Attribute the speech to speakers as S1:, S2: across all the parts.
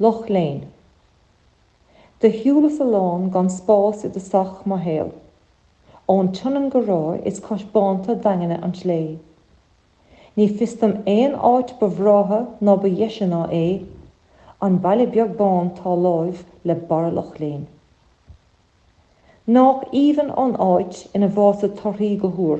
S1: Loch Léin. Do shiúlas a lán gan spás i dtosach mo shaoil. Ón tSionainn go Ráth is cois bánta daingeana an tslé'. Ní fios dom aon áit ba bhreátha ná ba dheise ná é, An baile beag bán 'tá láimh le barra Loch Léin. Nách aoibhinn an áit ina bhfásadh torthaí go húr.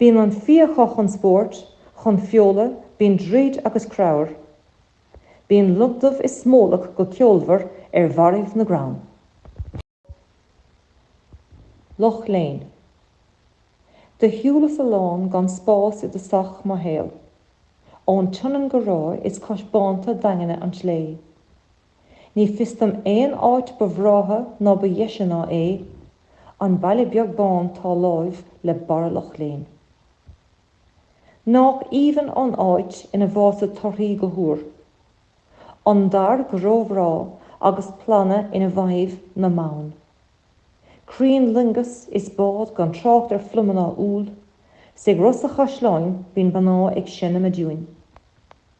S1: Bíonn an fia acu chun spóirt, chun feola, bíonn druid agus creabhar. Bíonn lon dubh is smólach go ceolmhar ar bharraibh na gcrann. Loch Léin. Do shiúlas a lán gan spás i dtosach mo shaoil. Ón tSionainn go Ráth is cois bánta daingeana an tslé. Ní fios dom aon áit ba bhreátha ná ba dheise ná é, an baile beag bán tá láimh le barra Loch Léin. Nách aoibhinn an áit ina bhfásadh torthaí go húr, an dair go ró-bhreá agus planna ina bhfaighidh na meáin crainn loingeas is bád gan trácht ar phluma ná úll 's ag Ros a' Chaisleáin bíonn mná ag seinm a dtiúin.